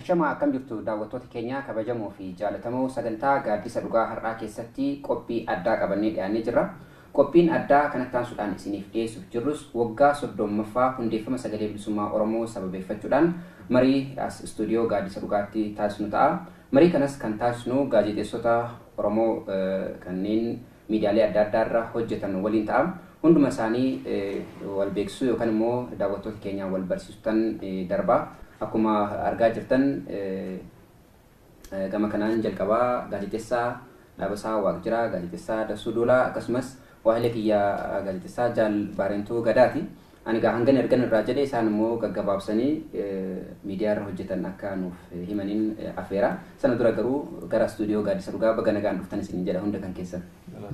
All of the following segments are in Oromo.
Ashamaa akkam jirtu daawwattoota keenya kabajamoo fi jaalatamoo sagantaa gaaddisa dhugaa har'aa keessatti qophii addaa qabannee dhiyaannee jirra. Qophiin addaa kanatti aansuudhaan isiniif dhiyeessuuf jirrus waggaa soddommaffaa hundeeffama sagalee bilisummaa Oromoo sababeeffachuudhaan marii as istuudiyoo gaaddisa dhugaatti taasisnu ta'a. Marii kanas kan taasisnu gaazexeessota Oromoo kanneen miidiyaalee adda addaa irra hojjetan waliin ta'a. Hunduma isaanii wal beeksisuu yookan immoo daawwattoota keenyaan wal barsiisuttan darba. Akkuma argaa jirtan gama kanaan jalqaba gaazexessaa Dhaabasaa Waaqjiraa, gaazexessaa Dassuu Doolaa akkasumas waahilee kiyya gaazexessaa Jaal Baarentuu Gadaati. Ani egaa hangan ergan irraa jedhe isaan immoo gaggabaabsanii miidiyaa irra hojjetan akka nuuf himaniin afeera. Sana dura garuu gara istuudiyoo Gaaddisa Dhugaa baga nagaan dhuftan isiniin jedha hunda kan keessan.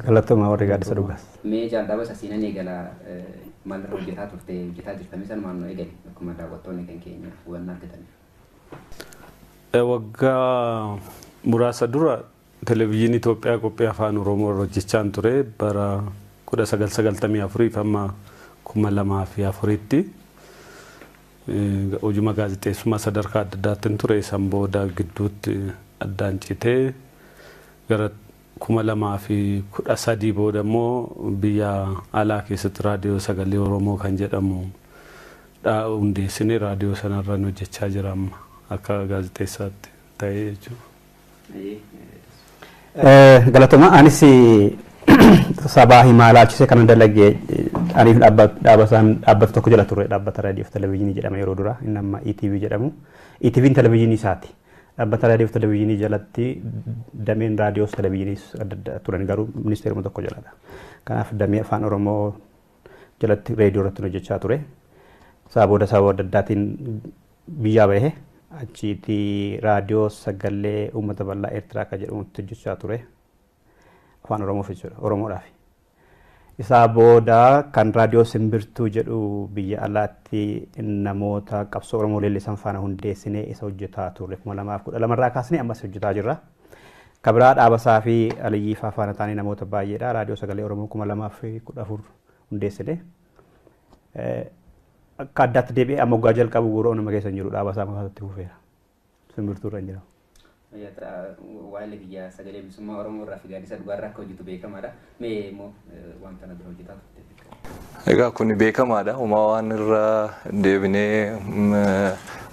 Galatoomaa warri Gaaddisa Dhugaas. Mee jaaldhabas asiinan eegala maalirra hojjetaa turte hojjetaa jirtamee sanumaan nu eegali akkuma daawwattoonni kan keenya hubannaa argataniif. Waggaa muraasa dura Televizyiinii Itoophiyaa qophii Afaan Oromoo irra hojjechaan ture bara 1994 fi amma 2004tti. Hojuma gaazexeessummaa sadarkaa adda addaattin ture. San booda gidduutti addaan citee gara 2013 booda immoo biyya alaa keessatti Raadiyoo Sagalee Oromoo kan jedhamu dha hundeessinee raadiyoo sanarran hojjechaa jira amma akka gaazexeessaatti ta'ee jechuudha. Galatoma anis sabaa himaa laalchisee kanan dalage aniif dhaabbata tokko jala ture dhaabbata raadiyoof televezyiinii jedhama yeroo dura inni amma ETV jedhamu ETVn televezyiinii isaati dhaabbata raadiyoof televezyiinii jalatti dameen raadiyoos televezyiiniis adda adda turan garuu ministeeruma tokko jaladha kanaaf damee afaan oromoo jalatti reediyoo irratti hojjechaa ture. Isaa booda sababa adda addaatiin biyyaa bahe. Achiiti raadiyoo sagalee uummata bal'aa Eertiraa akka jedhamutti hojjechaa ture. Afaan Oromoof jechuudha. Oromoodhaaf. Isaa booda kan raadiyoo simbirtuu jedhu biyya alaatti namoota qabsoo Oromoo leellisan faana hundeessinee isa hojjetaa turre. kuma lamaaf kudha lamarraa kaasnee ammas hojjetaa jirra. Ka biraa Dhaabasaa fi Aliyyii faa faana taanee namoota baay'eedha. Raadiyoo Sagalee Oromoo 2014 hundeessine. Akka addaatti deebi'ee amma waggaa jalqabu guura onuma keessa hin jiru Dhaabasaa mafaatti hufeera. Simbirtuu irra hin jiru. Waa'ee biyya sagalee bilisummaa Oromoo irraa fi gaaddisa dhugaa irraa akka hojjetu beekamaadha. Mee immoo waan kana dura hojjetaa turte beekamu. Egaa kun beekamaadha. Uumaa waan irra deebinee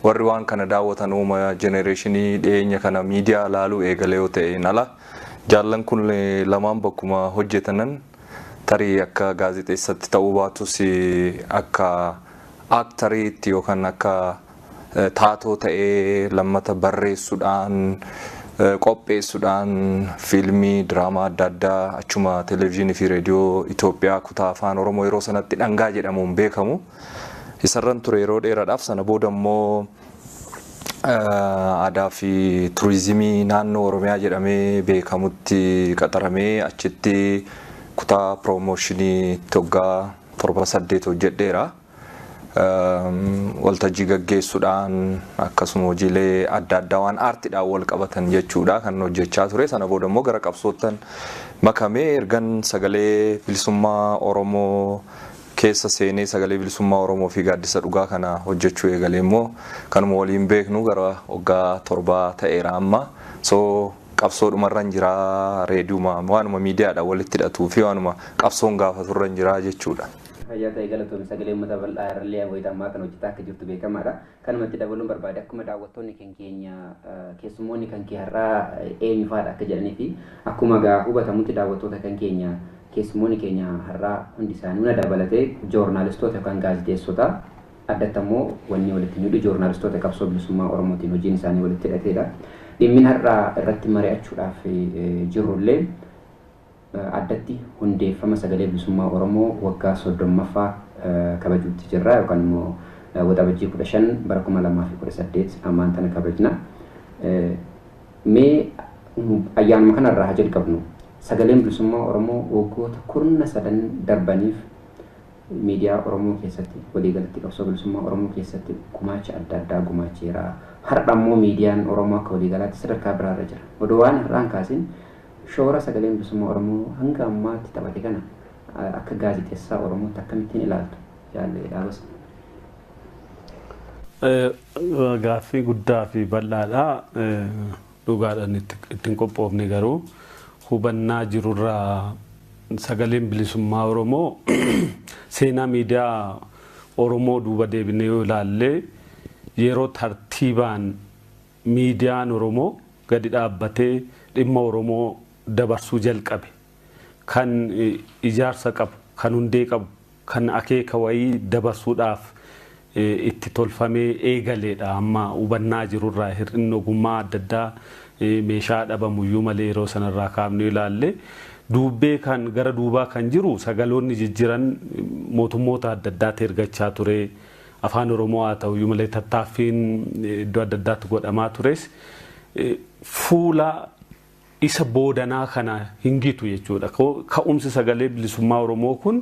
warri waan kana daawwatan uuma jenereeshinii dhiyeenya kana miidiyaa ilaaluu eegalee yoo ta'een ala jaallan kun lamaan bakkuma hojjetanan tarii akka gaazexeessatti ta'uu baatus akka aaktariitti yookaan akka taatoo ta'ee lammata barreessudhaan, qopheessudhaan fiilmii, diraamaa adda addaa achuma Televizyinii fi Reediyoo Itoophiyaa kutaa Afaan Oromoo yeroo sanatti Dhangaa jedhamuun beekamu isarran ture yeroo dheeradhaaf. Sana booda immoo Aadaa fi Turizimii Naannoo Oromiyaa jedhamee beekamutti qaxaramee achitti kutaa Piroomoshinii itti waggaa torba saddeet hojjedheera. waltajjii gaggeessudhaan akkasuma hojiilee adda addaa waan aartidhaan wal qabatan jechuudha kan hojjechaa ture sana booda immoo gara qabsoottan makamee ergan sagalee bilisummaa Oromoo keessa seenee sagalee bilisummaa Oromoo fi gaaddisa dhugaa kana hojjechuu eegalee immoo kanuma waliin beeknu gara waggaa torbaa ta'eera amma so qabsoodhumarran jira reediyuma waanuma miidiyaadha walitti hidhatuu fi waanuma qabsoon gaafaturran jira jechuudha. Itti fayyaa ta'i galatoomi. Sagalee Ummata Bal'aa irrallee wayita ammaa kana hojjetaa akka jirtu beekamaadha. Kanuma itti dabaluun barbaade akkuma daawwattoonni kan keenya keessummoonni kan kee har'aa eenyu faadha akka jedhanii fi akkuma egaa hubatamutti daawwattoota kan keenya keessummoonni keenya har'aa hundi isaanii hunda dabalatee joornaalistoota yookaan gaazexeessota addatti ammoo wanni walitti nu hidhu joornaalistoota qabsoo bilisummaa Oromootiin hojiin isaanii walitti hidhateedha. Dhimmin har'aa irratti mari'achuudhaaf jirrullee Addatti hundeeffama Sagalee Bilisummaa Oromoo waggaa 30ffaa kabajuutti jirra yookaan immoo Waxabajjii 15 bara 2018 ammaan tana kabajna. Mee ayyaanuma kana irraa haa jalqabnu. Sagaleen Bilisummaa Oromoo waggoota kurna sadan darbaniif miidiyaa Oromoo keessatti waliigalatti qabsoo bilisummaa Oromoo keessatti gumaacha adda addaa gumaacheera. Har'a immoo miidiyaan Oromoo akka waliigalaatti sadarkaa biraarra jira. Odoo waan har'aan kaasin Shoora Sagaleen Bilisummaa Oromoo hanga ammaatti taphate kana akka gaazexessaa Oromootti akkamittiin ilaaltu Jaal Dhaabas? Gaaffii guddaa fi bal'aadha. Dhugaadhaan itti hin qophoofne garuu hubannaa jirurraa Sagaleen Bilisummaa Oromoo seenaa miidiyaa Oromoo duuba deebinee yoo ilaalle yeroo tartiibaan Miidiyaan Oromoo gadi dhaabbatee dhimma Oromoo dabarsuu jalqabe. Kan ijaarsa qabu, kan hundee qabu, kan akeeka wayii dabarsuudhaaf itti tolfamee eegaleedha. Amma hubannaa jiru irraa hir'inni ogummaa adda addaa meeshaa dhabamuyyuu malee yeroo sana irraa kaafnee ilaalle duubbee kan gara duubaa kan jiru sagaloonni jijjiran mootummoota adda addaatti ergachaa ture. Afaan Oromoo haa ta'uyyuu malee tattaaffiin iddoo adda addaatti godhamaa tures fuula isa boodanaa kana hin gitu jechuudha. Ka'umsi sagalee bilisummaa Oromoo kun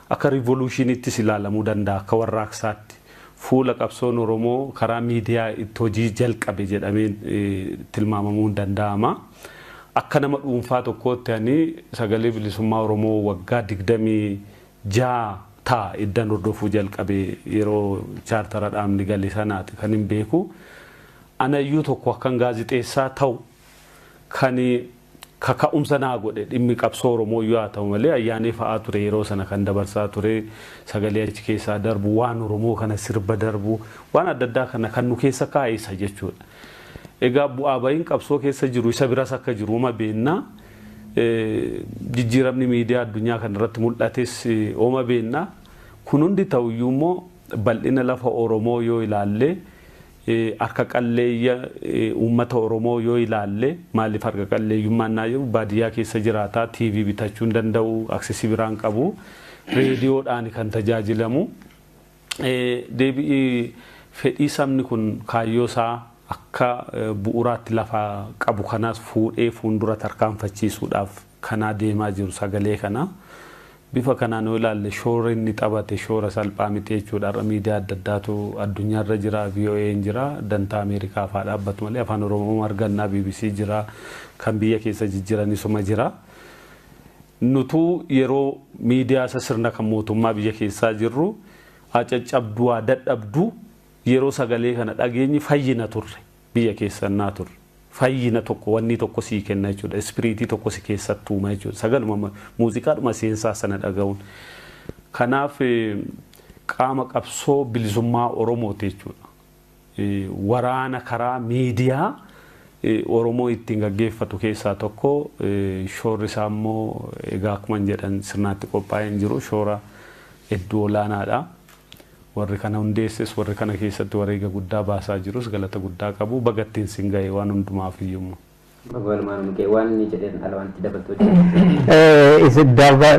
akka riivoluushiiniittis ilaalamuu danda'a akka warraaqsaatti. Fuula qabsoon Oromoo karaa miidiyaa itti hojii jalqabe jedhamee tilmaamamuun ni danda'ama. Akka nama dhuunfaa tokkootti ani sagalee bilisummaa Oromoo waggaa 20 6 ta, eddan hordofuu jalqabe yeroo chaartara dhaabni gale sanaati kanin beeku. Anayyuu tokko akkan gaazixeessaa ta'u kan kaka'umsa naa godhe dhimmi qabsoo Oromooyyuu haa ta'u malee Ayyaanee fa'aa ture yeroo sana kan dabarsaa ture sagalee achi keessaa darbu waan Oromoo kana sirba darbu waan adda addaa kana kan nu keessa kaa'e isa jechuudha. Egaa bu'aa ba'iin qabsoo keessa jiru isa biras akka jiru uma beekna. Jijjiiramni miidiyaa addunyaa kana irratti mul'ates ooma beenna. Kun hundi ta'u iyyuu immoo bal'ina lafa Oromoo yoo ilaalle, harka qalleeyya uummata Oromoo yoo ilaalle, maaliif harka qalleeyyummaa innaa jedhu baadiyyaa keessa jiraata, TV bitachuu hin danda'u, access biraa hin qabu, reediyoodhaani kan tajaajilamu. Deebi'i fedhii sabni kun kaayyoo isaa akka bu'uuraatti lafa qabu kanaas fuudhee fuundura tarkaanfachiisuudhaaf kanaa deemaa jiru sagalee kana. Bifa kanaan yoo ilaalle shoora inni taphate shoora salphaa miti jechuudha. Har'a miidiyaa adda addaatu addunyaa irra jira, VOA'n jira, dantaa Ameerikaaf haa dhaabbatu malee Afaan Oromoo arganna, bbc jira, kan biyya keessa jijjiran isuma jira. Nutuu yeroo miidiyaa isa sirna kan mootummaa biyya keessaa jirru acaccabduwaa dadhabduu yeroo sagalee kana dhageenyi fayyina turre biyya keessa ennaa turre. Fayyina tokko wannii tokko sii kenna jechuudha. Ispiriitii tokko si keessatti uuma jechuudha. Sagaluma muuziqaadhuma seensaa sana dhaga'uun. Kanaaf qaama qabsoo bilisummaa Oromooti jechuudha. waraana karaa miidiyaa Oromoo ittiin gaggeeffatu keessaa tokko shoorri isaa immoo egaa akkuman jedhan sirnaatti qophaa'een jiru shoora hedduu olaanaadha. Warri kana hundeesses warri kana keessatti wareega guddaa baasaa jirus galata guddaa qabu baga ittiin sin gahe waan hundumaaf iyyuu immoo. Walumaan mukee waan inni jedheen ala wanti dabaltoo jedhu. Is it Darba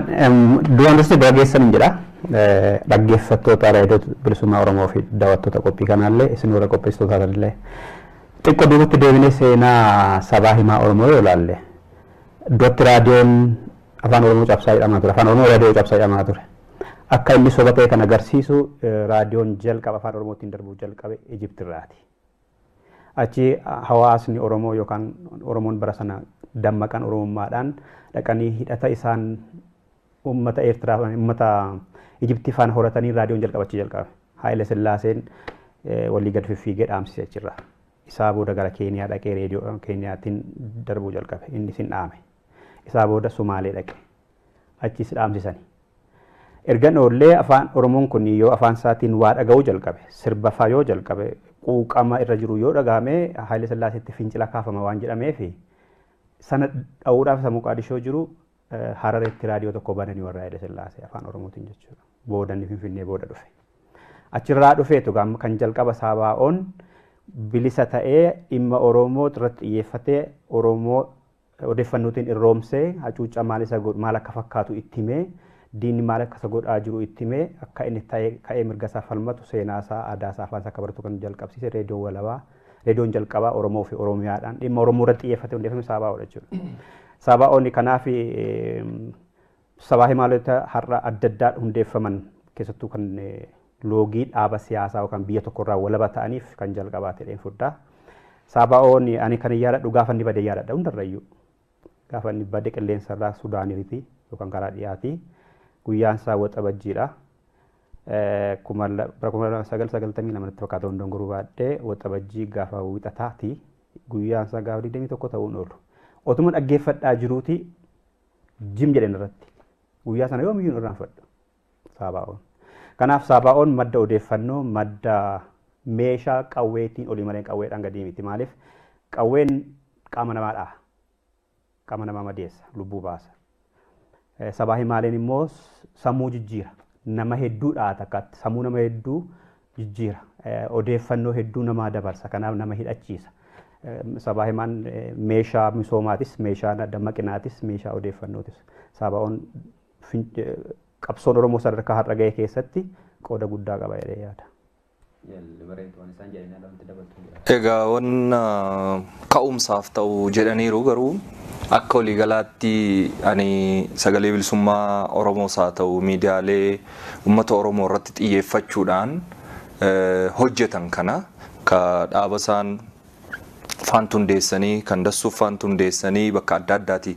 duraan dursee baga geessan hin jedha. Dhaggeeffattoota raadiyoo bilisummaa Oromoo fi daawwattoota qophii kanaallee isin warra qopheessitootaa tanillee. Xiqqoo duubatti deebinee seenaa sabaa himaa Oromoo yoo ilaalle duratti raadiyoon afaan Oromoo cabsaa jedhamaa ture. Afaan Oromoo raadiyoo cabsaa jedhamaa ture. Akka inni soba ta'e kan agarsiisu raadiyoon jalqaba afaan Oromootiin darbuu jalqabe Ijiptirraati. Achi hawaasni Oromoo yookaan Oromoon bara sana dammaqan Oromummaadhaan dhaqanii hidhata isaan uummata Eertiraa uummata Ijiptii faana horatanii raadiyoon jalqaba achi jalqabe. Haayile Sillaaseen walii gad fiffiigee dhaamsise achirraa. Isaa booda gara Keeniyaa dhaqee reediyoo Keeniyaatiin darbuu jalqabe. Inni sin dhaame. Isaa booda Sumaalee dhaqe. Achiis dhaamsisani. Ergan oollee afaan Oromoon kun yoo afaan isaatiin waa dhaga'uu jalqabe, sirba faa yoo jalqabe, quuqama irra jiru yoo dhaga'ame Haayile Sillaaseetti fincila kaafama waan jedhameefi sana dha'uudhaaf isa Moqaadishoo jiru Harareetti raadiyoo tokko bananii warra Haayile Sillaasee afaan Oromootiin jechuudha. Booda inni Finfinnee booda dhufe. Achirraa dhufeetu kan jalqaba Saabaa'oon bilisa ta'ee dhimma Oromoo irratti xiyyeeffatee Oromoo odeeffannootiin irroomsee hacuuccaa maal isa godhu maal akka fakkaatu itti himee diinni maal akka isa godhaa jiru itti himee akka inni ta'ee ka'ee mirga isaa falmatu seenaa isaa aadaa isaa afaan isaa akka baratu kan jalqabsiise reediyoo walabaa reediyoon jalqabaa Oromoo fi Oromiyaadhaan dhimma Oromoo irratti xiyyeeffatee hundeeffame Saabaa'oodha jechuudha. Saabaa'oon kanaaf Sabaa himaalota har'a adda addaa hundeeffaman keessattuu kan loogii dhaaba siyaasaa yookaan biyya tokkorraa walaba ta'aniif kan jalqabaa ta'een fudhaa. Saabaa'oon ani kan yaadadhu gaafa inni bade yaadadha hundarrayyuu. Gaafa inni bade qilleensarraa Sudaaniriti yookaan karaa dhiyaati. Guyyaan isaa waxabajjiidha. Kuma bara kuma lama sagal sagaltamii lama natti fakkaata hundoon guruu baadhee waxabajjii gaafa wixataati. Guyyaan isaa gaafa digdamii tokko ta'uun oolu. Otuma dhaggeeffadhaa jiruuti Jim jedhan irratti. Guyyaa sana yoomiyyuu hin irraanfadhu. Saabaa'oon. Kanaaf Saabaa'oon madda odeeffannoo, madda meeshaa qawweetiin olii malee qawweedhaan gadii miti. Maaliif qawween qaama namaa dhaha. Qaama namaa madeessa, lubbuu baasa. Eh, Sabaa himaaleen immoo s- sammuu jijjiira. Nama hedduu dhaha takkaatti. Sammuu nama hedduu jijjiira. Odeeffannoo hedduu namaa dabarsa. Kanaaf nama hidhachiisa. Sabaa himaan meeshaa misoomaatis, meeshaa dammaqinaatis, meeshaa odeeffannootis. Sabaa'oon qabsoon Oromoo sadarkaa har'a ga'e keessatti qooda guddaa qaba jedhee yaada. Egaa wan ka'umsaaf ta'u jedhaniiru garuu akka waliigalaatti ani sagalee bilisummaa Oromoos haa ta'u miidiyaalee uummata Oromoo irratti xiyyeeffachuudhaan hojjetan kana ka dhaabasaan faantu hundeessanii kan dassuuf faantu hundeessanii bakka adda addaati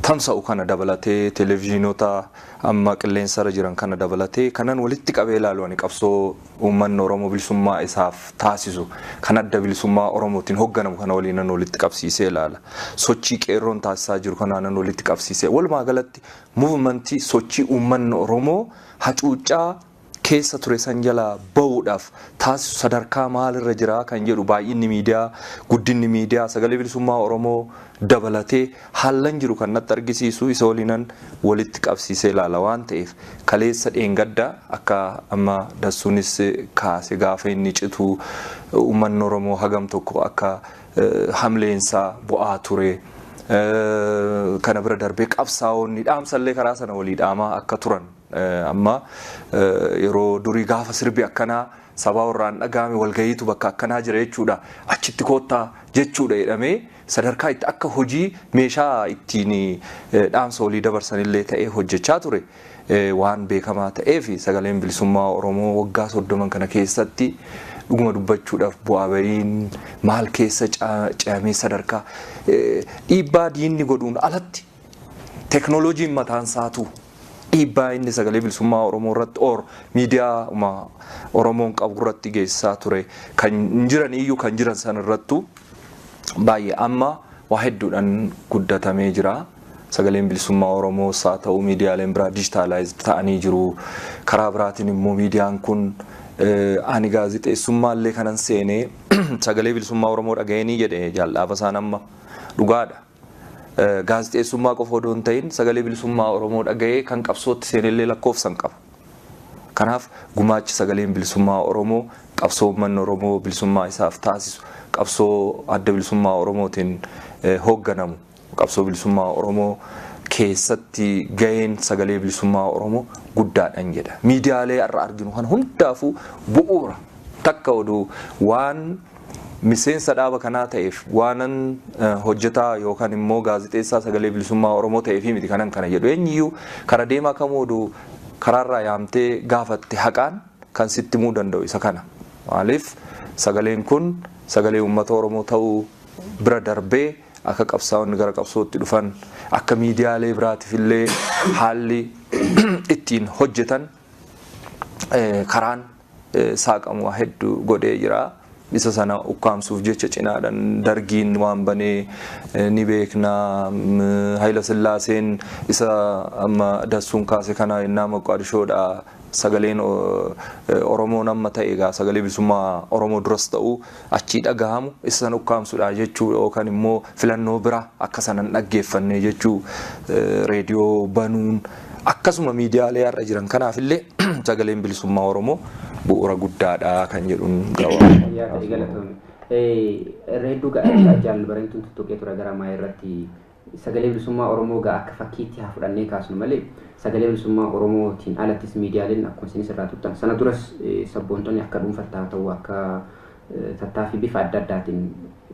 tamsa'u kana dabalatee televezyiinota amma qilleensarra jiran kana dabalatee kanan walitti qabee ilaalu ani qabsoo Uummanni Oromoo bilisummaa isaaf taasisu kan Adda Bilisummaa Oromootiin hogganamu kana waliin nan walitti qabsiisee ilaala. Sochii Qeerroon taasisaa jiru kanaa nan walitti qabsiisee. Walumaa galatti movement sochii uummanni Oromoo hacuuccaa keessa ture san jalaa ba'uudhaaf taasisu sadarkaa maalirra jira kan jedhu baay'inni miidiyaa, guddinni miidiyaa, sagalee bilisummaa Oromoo dabalatee Haallan jiru kan natti argisiisu isa waliinan walitti qabsiisee ilaala waan ta'eef kaleessa dheengadda akka amma Dassuunis kaase gaafa inni citu uummanni Oromoo hagam tokko akka hamleensaa bu'aa ture kana bira darbee qabsaa'oonni dhaamsallee karaa sana walii dhaamaa akka turan amma yeroo durii gaafa sirbi akkanaa sabaa warraan dhaga'ame walgahiitu bakka akkanaa jira jechuudha achitti koottaa jechuudha jedhamee Sadarkaa itti akka hojii meeshaa ittiin dhaamsa walii dabarsan illee ta'ee hojjechaa ture waan beekamaa ta'eef Sagaleen Bilisummaa Oromoo waggaa 30 kana keessatti dhuguma dubbachuudhaaf bu'aa ba'iin maal keessa ce'amee sadarkaa dhiibbaa diinni godhuun alatti teknolojiin mataan isaatuu dhiibbaa inni Sagalee Bilisummaa Oromoo irratti or miidiyaa'uma Oromoon qabu irratti geessisaa ture kan hin jiraniyyuu kan jiran san irrattuu baay'ee amma waa hedduudhaan guddatamee jira. Sagaleen bilisummaa Oromoo saa ta'u miidiyaaleen biraa dijitaalaayizd ta'anii jiru. Karaa biraatiin immoo miidiyaan kun ani gaazexeessummaa illee kanan seenee sagalee bilisummaa Oromoo dhaga'eenii jedhe jaaldhaaba isaan amma dhugaadha. Gaazexeessummaa qofa odoo hin ta'in sagalee bilisummaa Oromoo dhaga'ee kan qabsootti seenellee lakkoofsa hin qabu. Kanaaf gumaachi sagaleen bilisummaa Oromoo qabsoo uummanni Oromoo bilisummaa isaaf taasisu qabsoo adda bilisummaa Oromootiin hoogganamu qabsoo bilisummaa Oromoo keessatti gaheen sagalee bilisummaa Oromoo guddaadhan jedha. Miidiyaalee har'a arginu kan hundaafuu bu'uura takka oduu waan Miseensa dhaaba kanaa ta'eef waanan hojjetaa yookaan immoo gaazexeessaa sagalee bilisummaa Oromoo ta'eefii miti kanan kana jedhu. Eenyuyyuu kara deemaa kamuu oduu karaarraa yaamtee gaafatte haqaan kan sitti himuu danda'u isa kana. Maaliif sagaleen kun sagalee uummata Oromoo ta'uu bira darbee akka qabsaa'onni gara qabsootti dhufan akka miidiyaalee biraatiif illee haalli ittiin hojjetan karaan saaqamu waa heddu godhee jira. Isa sana ukkaamsuuf jecha cinaadhan Dargiin waan banee ni beekna. Hayila Sillaaseen isa amma Dassuun kaase kana yennaa Moqqaadishoodha sagaleen Oromoon amma ta'e egaa sagalee bilisummaa Oromoo duras ta'u achii dhagahamu isa san ukkaamsudha jechuu yookan immoo filannoo bira akka sana hin dhaggeeffanne jechuu reediyoo banuun akkasuma miidiyaalee har'a jiran kanaaf illee sagaleen bilisummaa Oromoo bu'uura guddaadha kan jedhuun gabaabaa. Reedduu gaa'elaa jaalli bareeduun tuttuqee ture gara maa irratti Sagalee Bilisummaa Oromoo egaa akka fakkiitti haa fudhannee kaasnu malee Sagalee Bilisummaa Oromootiin alattis miidiyaaleen akkuma isinis irraa tuttan sana duras sabboontonni akka dhuunfatti haa ta'u akka tattaaffii bifa adda addaatiin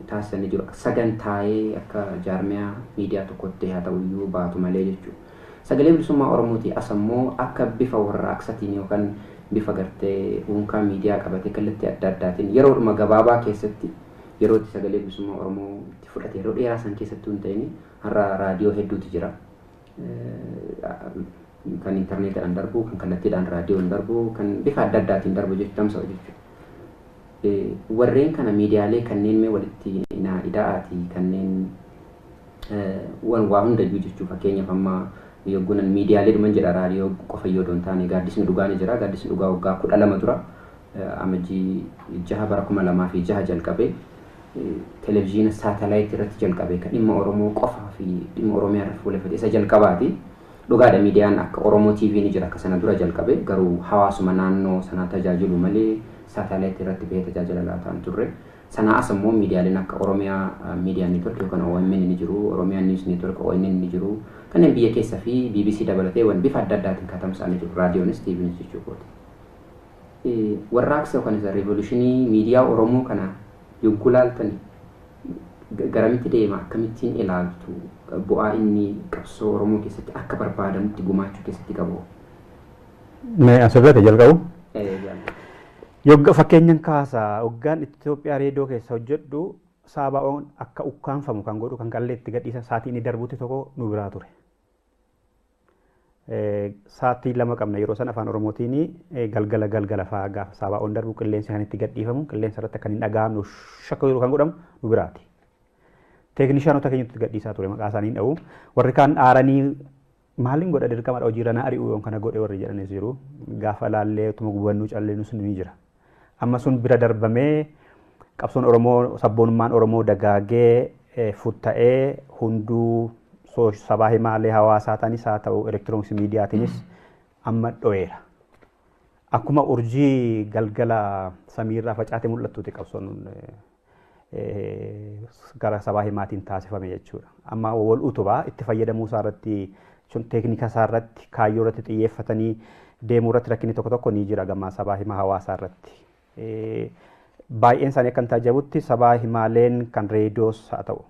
taasisan ni jiru. Sagantaa'ee akka jaarmiyaa miidiyaa tokkotti haa ta'u iyyuu baatu malee jechuudha. Sagalee Bilisummaa Oromootii as ammoo akka bifa warraaqsatiin yookaan bifa gartee uunkaa miidiyaa qabatee kallattii adda addaatiin yeroodhuma gabaabaa keessatti yeroo itti Sagalee Bilisummaa Oromoo fudhate yeroo dheeraa san keessattuu hin ta'in har'a raadiyoo hedduutu jira. Kan intarneetiidhaan darbu, kan kallattiidhaan raadiyoon darbu, kan bifa adda addaatiin darbu jechuudha tamsa'u jechuudha. Warreen kana miidiyaalee kanneen mee walitti naa ida'aatii kanneen waan waa hundayyuu jechuu fakkeenyaaf amma yoggunan miidiyaalee dhuman jedha raadiyoo qofa yoo doon taane gaaddisni dhugaa ni jira gaaddisni dhugaa waggaa kudha lama dura amajjii jaha bara kuma lamaa fi jaha jalqabee Televizhiina Saatalaayit irratti jalqabe ka dhimma Oromoo qofaa fi dhimma Oromiyaa irratti fuuleffate isa jalqabaati. Dhugaadha miidiyaan akka Oromoo TV ni jira ka sana dura jalqabe garuu hawaasuma naannoo sanaa tajaajilu malee Saatalaayit irratti bahee tajaajila laataa hin turre. Sanaa as ammoo miidiyaaleen akka Oromiyaa Media Network yookaan OMN ni jiru, Oromiyaa News Network, ONN, ni jiru. Kanneen biyya keessa fi bbc dabalatee wan bifa adda addaatiin ka tamsa'ani jiru. Raadiyoonis TVnis jechuu kooti. Warraaqsa yookaan isa revolutionii miidiyaa Oromoo kana yogguu laaltani garamitti deema akkamittiin ilaaltu bu'aa inni qabsoo Oromoo keessatti akka barbaadamutti gumaachuu keessatti qabu? Mee asirratti jalqabu. Ee jaalladha. Yogga fakkeenyan kaasa hoggaan Itoophiyaa reediyoo keessa hojjedhu saabaa'oon akka ukkaanfamu kan godhu kan qallee itti gadhiisan saatii inni darbutti tokko nu biraa ture. Sa'aatii lama qabna yeroo sana afaan Oromootiin galgala galgala fa'aa gaafa saabaa'oon darbu qilleensi kan itti gadhiifamu qilleensa irratti kan hin dhaga'amne shakka yeroo kan godhamu nu biraati. Teeknishaanota keenyatti gadhiisaa ture maqaa isaanii dha'u. Warri kaan aaranii maaliin godha dirqamadha hojiirra na ari'u yoon kana godhe warri jedhanis jiru. Gaafa laallee utuma gubannuu callee nus ni jira. Amma sun bira darbamee qabsoon Oromoo sabboonummaan Oromoo dagaagee futta'ee hunduu sabaa himaalee hawaasaa tanis haa ta'u elektirooniksi miidiyaatiinis amma dho'eera. Akkuma urjii galgala samiirraa facaate mul'attuuti qabsoon gara sabaa himaatiin taasifame jechuudha. Amma wal utubaa itti fayyadamuu isaa irratti jechuun teeknika isaa irratti kaayyoo irratti xiyyeeffatanii deemuu irratti rakkinni tokko tokko ni jira gama sabaa himaa hawaasaa irratti. Baay'een isaanii akka hin taajjabutti sabaa himaaleen kan reediyoos haa ta'u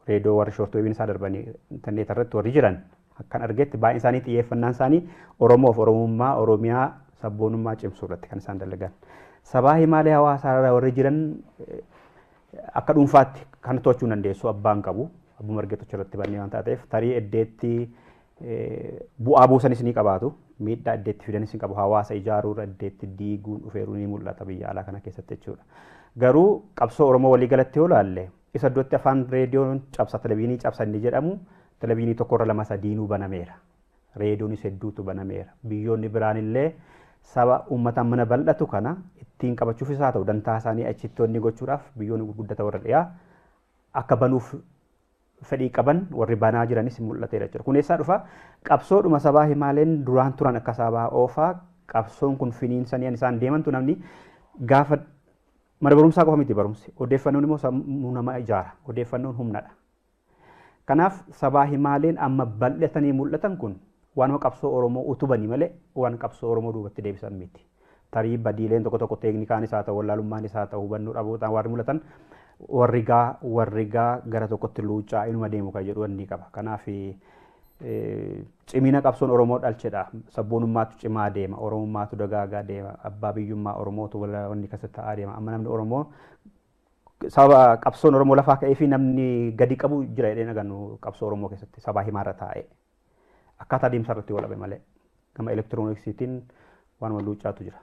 reedoo warri shoortoo ibin isaa darbanii intarneeta irratti warri jiran akkan argetti baay'een isaanii xiyyeeffannaan isaanii Oromoof Oromummaa Oromiyaa sabboonummaa cimsuu irratti kan isaan dalagan. Sabaa himaalee hawaasaa irra warri jiran akka dhuunfaatti kan to'achuu hin dandeessu abbaan qabu abbuma argetu irratti bannee waan taateef tarii eddeetti bu'aa buusanis ni qabaatu miidhaa eddeetti fidanis ni qabu hawaasa ijaaruu irra eddeetti diiguun dhufeeruu ni mul'ata biyya alaa kana keessatti jechuudha. Garuu qabsoo Oromoo waliigalatti yoo ilaalle Ibsa iddootti afaan reediyoon cabsa televiinii cabsa inni jedhamu televiinii tokkorra lama sadiinuu banameera. Reediyoonis hedduutu banameera. Biyyoonni biraan illee saba uummata mana bal'atu kana ittiin qabachuufis haa ta'u dantaa isaanii achitti wanni gochuudhaaf biyyoonni gurguddata warra dhiyaa akka banuuf fedhii qaban warri banaa jiranis mul'ateera jechuudha. Kun eessaa dhufa? Qabsoodhuma sabaa himaaleen duraan turan akka sabaa oofaa qabsoon kun finiinsanii isaan deemantu namni gaafa Mana barumsaa qofa miti barumsi. Odeeffannoon immoo sammuu namaa ijaara. Odeeffannoon humnadha. Kanaaf sabaa himaaleen amma bal'atanii mul'atan kun waanuma qabsoo Oromoo utubanii malee waan qabsoo Oromoo duubatti deebisan miti. Tarii badiileen tokko tokko teeknikaanis haa ta'u, wallaalummaanis haa ta'u, hubannoo dhabootaan warri mul'atan warri gaa warri gaa gara tokkotti luuccaa inuma deemu kan jedhu wanni qaba. Kanaaf cimina qabsoon Oromoo dhalchedha. Sabboonummaatu cimaa deema. Oromummaatu dagaagaa deema. Abbaa biyyummaa Oromootu wanni keessa ta'aa deema. Amma namni Oromoo sababa qabsoon Oromoo lafaa ka'ee fi namni gadi qabu jira jedhee nagannu qabsoo Oromoo keessatti sabaa himaarra taa'ee. Akkaataa deemsa irratti walabe malee. Gama elektirooniksiitiin waanuma luuccaatu jira.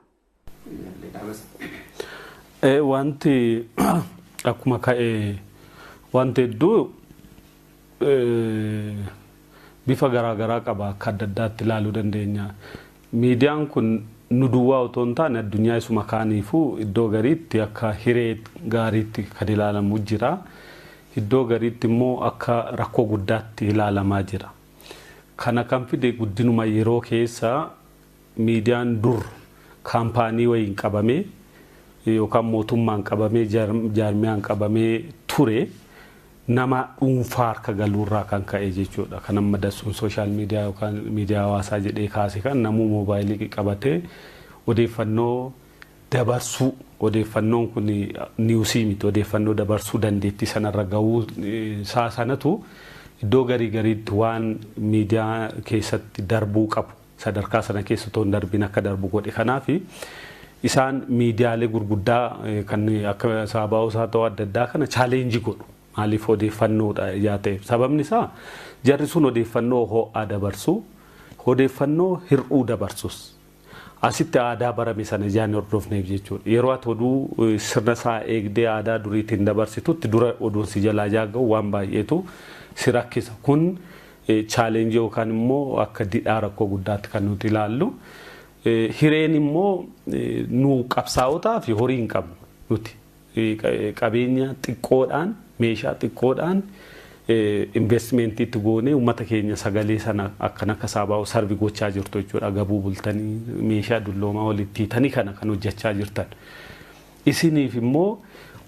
Wanti akkuma ka'e wanti hedduu bifa garaa garaa qaba akka adda addaatti ilaaluu dandeenya. Miidiyaan kun nu duwwaa otoo hin taane addunyaa isuma kaaniifuu iddoo gariitti akka hiree gaariitti kan ilaalamu jira. Iddoo gariitti immoo akka rakkoo guddaatti ilaalamaa jira. Kana kan fide guddinuma yeroo keessa Miidiyaan dur kaampaanii wayiin qabamee yookaan mootummaan qabamee jaarmiyaan qabamee ture nama dhuunfaa harka galuurraa kan ka'e jechuudha. Kan amma Dassuun sooshaal miidiyaa yookaan miidiyaa hawaasaa jedhee kaase kan namuu moobaayilii qabatee odeeffannoo dabarsuu odeeffannoon kun niwusii miti odeeffannoo dabarsuu dandeettii sanarra gahuu isaa sanatu iddoo garii gariitti waan miidiyaa keessatti darbuu qabu sadarkaa sana keessa otoo hin darbiin akka darbu godhe kanaaf isaan miidiyaalee gurguddaa kan akka saabaa'oos haa ta'u adda addaa kana chaaleenjii godhu maaliif odeeffannoodha yaa ta'eef sababni isaa jarri sun odeeffannoo ho'aa dabarsu odeeffannoo hir'uu dabarsus asitti aadaa barame sana ijaan hordofneef jechuudha yeroo ati oduu sirna isaa eegdee aadaa duriitiin dabarsitutti dura oduun si jalaa yaa ga'u waan baay'eetu si rakkisa kun Challenge yookaan immoo akka didhaa rakkoo guddaatti kan nuti ilaallu. Hireen immoo nu qabsaa'otaa fi horii hin qabnu nuti. Qabeenya xiqqoodhaan, meeshaa xiqqoodhaan investment itti goonee uummata keenya sagalee sana akkan akka saabaa'u sarvi gochaa jirtu jechuudha. Agabuu bultanii meeshaa dulloomaa walitti hiitanii kana kan hojjechaa jirtan. Isiniif immoo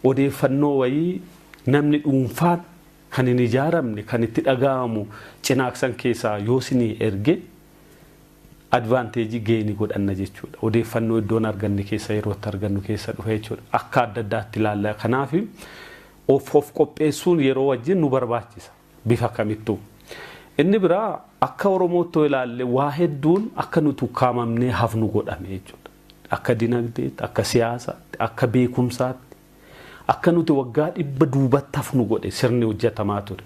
odeeffannoo wayii namni dhuunfaan kan hin ijaaramne kan itti dhaga'amu cinaaksan keessaa yoo sinii erge advantage gain godhanna jechuudha. Odeeffannoo iddoon arganne keessa yeroo itti argannu keessa dhufa jechuudha. Akka adda addaatti ilaalla. Kanaaf of of qopheessuun yeroo wajjin nu barbaachisa. Bifa kamittuu. Inni biraa akka Oromootti yoo ilaalle waa hedduun akka nuti ukkaamamnee hafnu godhame jechuudha. Akka dinagdeetti, akka siyaasaatti, akka beekumsaatti. akka nuti waggaa dhibba duubatti hafnu godhe sirni hojjatamaa ture.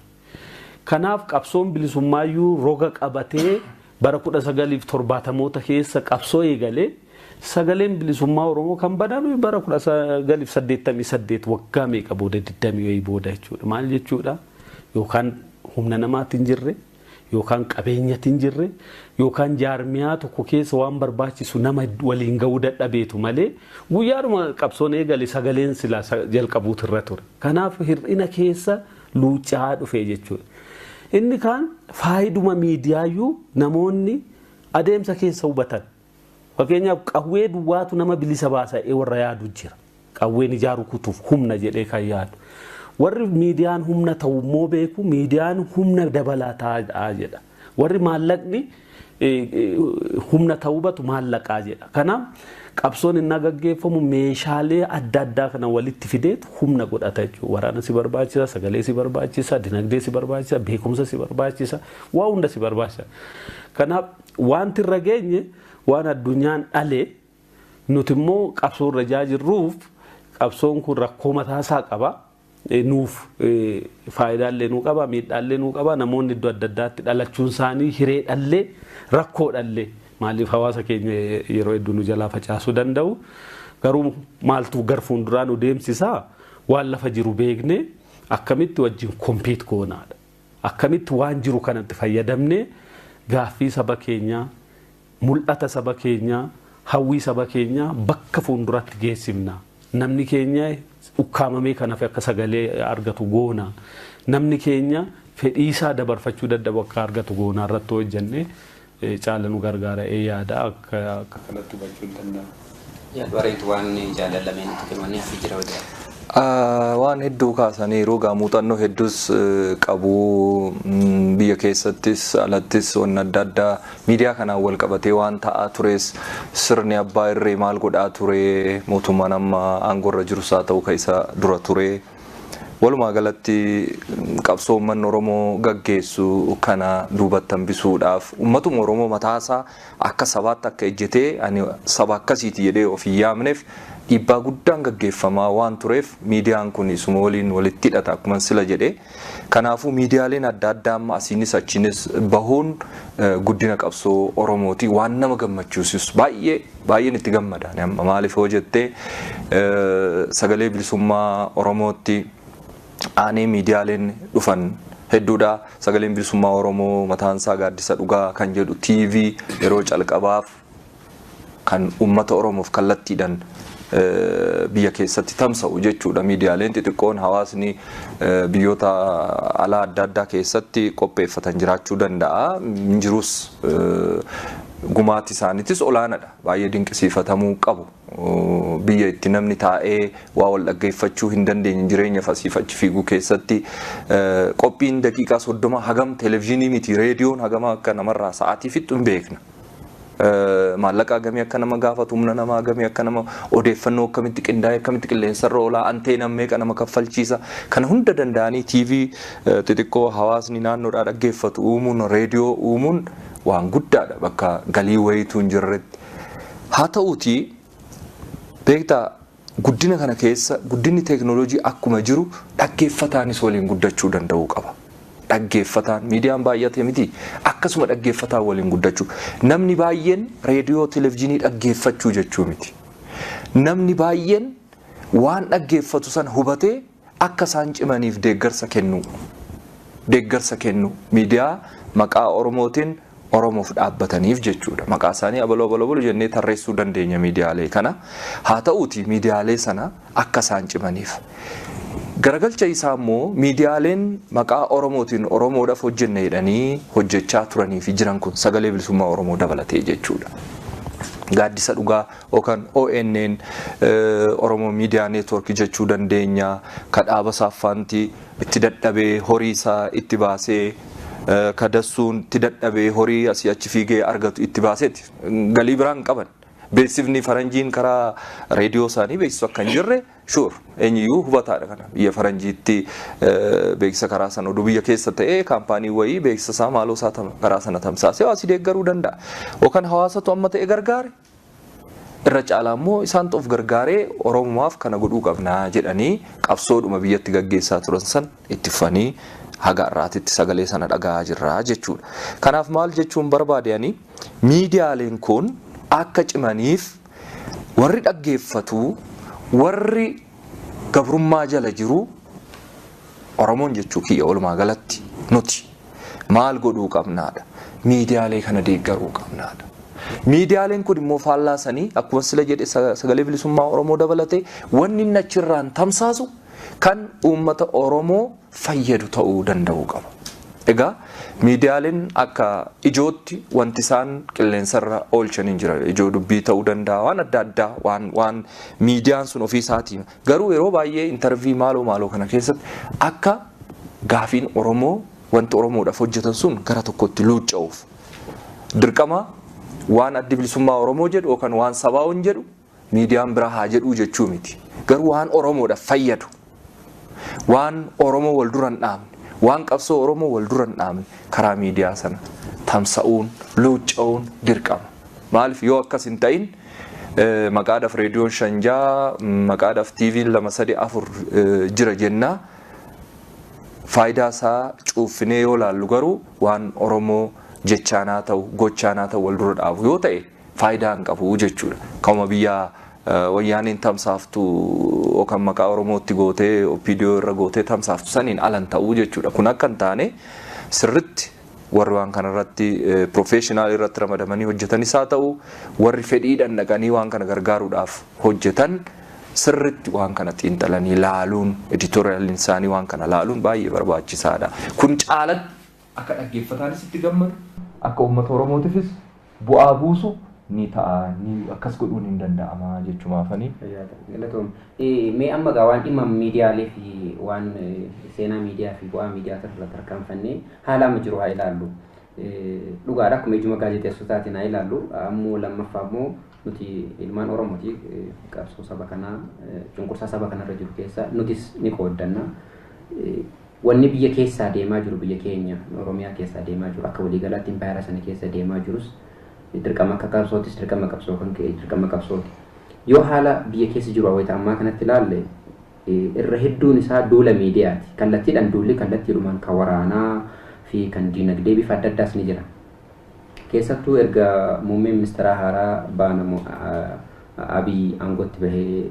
Kanaaf qabsoon bilisummaayyuu roga qabatee bara 1970moota keessa qabsoo eegale sagaleen bilisummaa Oromoo kan baname bara 1988 waggaa meeqa booda 20 wayii booda jechuudha. Maal jechuudha? Yookaan humna namaatti hin jirre. yookaan qabeenyatti hin jirre yookaan jaarmiyaa tokko keessa waan barbaachisu nama waliin ga'uu dadhabeetu malee guyyaadhuma qabsoon eegale sagaleen silaa sa- jalqabuutu irra ture. Kanaaf hir'ina keessa luucca'aa dhufe jechuudha. Inni kaan faayiduma miidiyaayyuu namoonni adeemsa keessa hubatan Fakkeenyaaf qawwee duwwaatu nama bilisa baasa jedhee warra yaadu jira. Qawween ijaa rukutuuf humna jedhee kan yaadu. Warri miidiyaan humna ta'u immoo beeku miidiyaan humna dabalataadha jedha. Warri maallaqni humna ta'uu batu maallaqaa jedha. Kanaaf qabsoon innaa gaggeeffamu meeshaalee adda addaa kana walitti fideetu humna godhata jechuudha. Waraana si barbaachisa, sagalee si barbaachisa, dinagdee si barbaachisa, beekumsa si barbaachisa, waa hunda si barbaachisa. Kanaaf Waanti irra geenye waan addunyaan dhale nuti immoo qabsoo irra ijaa jirruuf qabsoon kun rakkoo mataa isaa qaba. Nuuf faayidaa illee nuu qaba, miidhaa illee nuu qaba. Namoonni iddoo adda addaatti dhalachuun isaanii hiree dhallee rakkoo dhallee maaliif hawaasa keenya yeroo hedduu nu jalaa facaasuu danda'u. Garuu maaltu gar fuulduraa nu deemsisaa waan lafa jiru beeknee akkamitti wajjin kompiit goonaadha. Akkamitti waan jiru kanatti fayyadamnee gaaffii saba keenyaa, mul'ata saba keenyaa, hawwii saba keenyaa bakka fuunduraatti geessifna? Namni keenya ukkaamamee kan hafe akka sagalee argatu goona? Namni keenya fedhiisaa dabarfachuu dadhabu akka argatu goonaa irratti hojjennee caala nu gargaara ee yaada akka akka kanatti hubachuun danda'ama. Yaa bareedu waan jaalan lameen itti kennamanii hafi jira wadaadha. Waan hedduu kaasaniiru egaa muuxannoo hedduus qabu biyya keessattis alattis wanni adda addaa miidiyaa kanaan wal qabatee waan ta'aa tures sirni abbaa irree maal godhaa ture mootummaan amma aangorra jirus haa ta'u ka isa dura ture Walumaa galatti qabsoo ummanni Oromoo gaggeessu kana duubatti hambisuudhaaf ummatuma Oromoo mataasaa akka sabaatti akka ejjetee ani saba akkasiiti jedhee of hin yaamneef dhiibbaa guddaan gaggeeffamaa waan tureef miidiyaan kun isuma waliin walitti hidhata akkuman sila jedhe. Kanaafuu miidiyaaleen adda addaa amma asiinis achiinis bahuun guddina qabsoo Oromooti waan nama gammachiisus baay'ee Baay'een itti gammada ani amma maaliif yoo jette sagalee bilisummaa Oromootti aanee miidiyaaleen dhufan hedduudha. Sagaleen bilisummaa Oromoo mataan isaa gaaddisa dhugaa kan jedhu TV yeroo calqabaaf kan uummata Oromoof kallattiidhaan biyya keessatti tamsa'u jechuudha. Miidiyaaleen xixiqqoon hawaasni biyyoota alaa adda addaa keessatti qopheeffatan jiraachuu danda'a. Hin jirus Gumaachi isaaniitis olaanadha. Baay'ee dinqisiifatamuu qabu. Biyya itti namni taa'ee waa wal dhaggeeffachuu hin dandeenye jireenyaf asiif achi fiiguu keessatti qophiin daqiiqaa soddoma hagam televizhinii miti reediyoon hagama akka namarraa sa'aatii fixxu hin beekna. Maallaqa hagamii akka nama gaafatu humna namaa hagamii akka nama odeeffannoo akkamitti qindaa'e akkamitti qilleensarra oolaa anteenaan meeqa nama kaffalchiisa kana hunda danda'anii TV xixiqqoo hawaasni naannoodhaa dhaggeeffatu uumuun reediyoo uumuun waan guddaadha bakka galii wayiitu hin jirretti. Haa ta'uutii beektaa guddina kana keessa guddinni teeknooloojii akkuma jiru dhaggeeffataanis waliin guddachuu danda'uu qaba. Dhaggeeffataan miidiyaan baay'ate miti akkasuma dhaggeeffataan waliin guddachuu namni baay'een reediyoo televizyiinii dhaggeeffachuu jechuu miti. Namni baay'een waan dhaggeeffatu sana hubatee Akka isaan cimaniif deeggarsa kennuu. Deeggarsa kennuu. Miidiyaa maqaa Oromootiin Oromoof dhaabbataniif jechuudha. Maqaa isaanii abaluu abaluu abaluu jennee tarreessuu dandeenya miidiyaalee kana. Haa ta'uutii miidiyaalee sana akka isaan cimaniif. Garagalcha isaa immoo miidiyaaleen maqaa Oromootiin Oromoodhaaf hojjenna jedhanii hojjechaa turanii fi jiran kun sagalee bilisummaa Oromoo dabalatee jechuudha. Gaaddisa dhugaa Okan, ONN, Oromo Media Network jechuu dandeenya, ka dhaaba saaffaanti itti dadhabee horii isaa itti baasee, ka dassuun itti dadhabee horii asii achi fiigee argatu itti baaseeti. Galii biraa hin qaban. Beeksifni faranjiin karaa reediyoo isaanii beeksisu akka hin jirre sure. Eenyuyyuu hubataadha kana. Biyya faranjiitti beeksisa karaa sana oduu biyya keessa ta'ee kaampaanii wayii beeksisa isaa maaloo isaa karaa sana tamsaasee hawaasi deeggaruu danda'a. Okan hawaasatu amma ta'e gargaare. Irra caalaa immoo isaantu of gargaaree Oromumaaf kana godhuu qabna jedhanii qabsoodhuma biyyatti gaggeessaa turan san itti fufanii haga har'aatitti sagalee sana dhaga'aa jirra jechuudha. Kanaaf maal jechuun barbaade ani miidiyaaleen kun akka cimaniif warri dhaggeeffatu, warri gabrummaa jala jiruu Oromoon jechuu kiyya walumaa galatti nuti maal godhuu qabnaadha. Miidiyaalee kana deeggaruu qabnaadha. Miidiyaaleen kun immoo faallaa sanii akkuma sila jedhe sagalee bilisummaa Oromoo dabalatee wanni inni achirraan tamsaasu kan uummata Oromoo fayyadu ta'uu danda'uu qaba. Egaa miidiyaaleen akka ijootti wanti isaan qilleensarra oolchan hin jira. Ijoo dubbii ta'uu danda'a waan adda addaa waan waan miidiyaan sun ofii isaatii garuu yeroo baay'ee intarvii maaloo maaloo kana keessatti akka gaafiin Oromoo wanti Oromoodhaaf hojjetan sun gara tokkotti luucca'uuf dirqama waan addi bilisummaa Oromoo jedhu yookaan waan sabaa'oon jedhu miidiyaan biraa haa jedhuu jechuu miti. Garuu waan Oromoodhaaf fayyadu, waan Oromoo wal dura hin dhaabne, waan qabsoo Oromoo wal dura hin dhaabne karaa miidiyaa sana tamsa'uun, luucca'uun dirqama. Maaliif yoo akkas hin ta'in maqaadhaaf reediyoon shan ja'a, maqaadhaaf TV'n lama sadii afur jira jenna. Faayidaa isaa cuuffinee yoo laallu garuu waan Oromoo jechaan haa ta'u, gochaan haa ta'u wal dura dhaabu yoo ta'e faayidaa hin qabu jechuudha. Kanuma biyya wayyaaneen tamsaaftu yookaan maqaa Oromootti gootee OPDO irra gootee tamsaaftu saniin ala hin ta'u jechuudha. Kun akka hin taane sirritti warri waan kanarratti professional irratti ramadamanii hojjetanis haa ta'u warri fedhiidhaan dhaqanii waan kana gargaaruudhaaf hojjetan sirritti waan kana xiinxalanii laaluun editorialiin isaanii waan kana laaluun baay'ee barbaachisaadha. Kun caalatti Akka dhaggeeffataanis itti gammadu. Akka uummata Oromootifis bu'aa buusu ni ta'a, ni akkas godhuun hin danda'ama jechumaafani. Fayyaa ta'i. Galatoomi. Mee amma egaa waan dhimma miidiyaalee fi waan seenaa miidiyaa fi bu'aa miidiyaa irra tarkaanfannee haala amma jiru haa ilaallu. Dhugaadha akkuma ijuma gaazexeessotaatiin haa ilaallu. Ammoo lammaffaa immoo Nuti ilmaan Oromooti. Qabsoo saba kanaa, cunqursaa saba kanarra jiru keessa nutis ni qooddanna. Wanni biyya keessaa deemaa jiru, biyya keenya Oromiyaa keessaa deemaa jiru, akka waliigalaatti impaayera sana keessa deemaa jirus dirqama akka qabsootis dirqama qabsoo kan ka'e dirqama qabsooti. Yoo haala biyya keessa jiru wayita ammaa kanatti ilaalle irra hedduun isaa duula miidiyaati. Kallattiidhaan duulli kallattiidhumaan kan waraanaa fi kan diinagdee bifa adda addaas ni jira. Keessattuu erga muummee ministeeraa haaraa baanamu Abiy aangootti bahee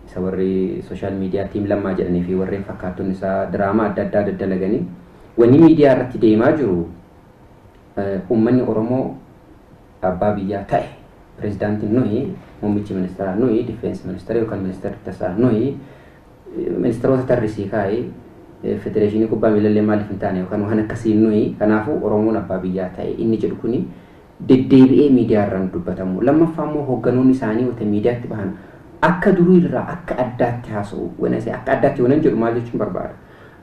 isa warri sooshaal miidiyaa tiim lammaa jedhanii fi warreen fakkaattonni isaa diraamaa adda addaa daddalaganii wanni miidiyaa irratti deemaa jiru uummanni Oromoo abbaa biyyaa ta'e pirezidaantiin nuyi muummichi ministeeraa nuyi difeensi ministeera yookaan ministeerri tasaa nuyi Ministeroota tarrisii kaa'i. Federeeshinii kubbaa miilallee maaliif hin taane yookaan waan akkasiin nuyi kanaafuu Oromoon abbaa biyyaa ta'e inni jedhu kuni deddeebi'ee miidiyaa irraa nu dubbatamu. Lammaffaa immoo hoogganoonni isaanii wayita miidiyaatti bahan akka durii irraa akka addaatti haasa'u. When I say akka addaatti yoonan jedhu maal jechuun barbaada?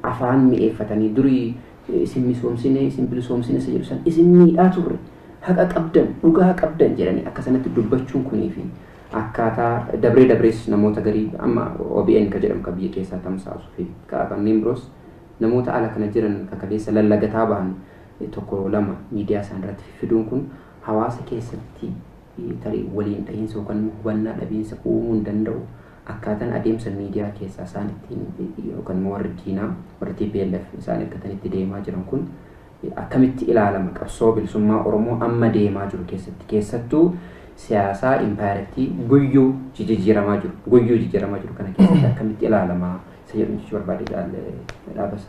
Afaan mi'eeffatanii durii isin misoomsine isin bilisoomsine isa jedhu san isin miidhaa turre haqa qabdan dhugaa qabdan jedhanii akka sanatti dubbachuun kunii fi Akkaataa dabree dabrees namoota garii amma obn ka jedhamu ka biyya keessaa tamsaasu fi ka kanneen biroos namoota ala kana jiran ka kaleessa lallagataa bahan tokko lama miidiyaa isaanii irratti fiffiduun kun hawaasa keessatti tarii waliin dhahiinsa yookaan immoo hubannaa dhabiinsa uumuu hin danda'u. Akkaataan adeemsa miidiyaa keessaa isaan ittiin yookaan immoo warri diinaa warri tplf isaan ergatanitti deemaa jiran kun Akkamitti ilaalama qabsoo bilisummaa Oromoo amma deemaa jiru keessatti keessattuu siyaasaa impaayerattii guyyuu jijijjiiramaa jiru guyyuu jijjiiramaa jiru kana keessatti akkamitti ilaalama isa jedhu jechuu barbaade jaal dhaabasa.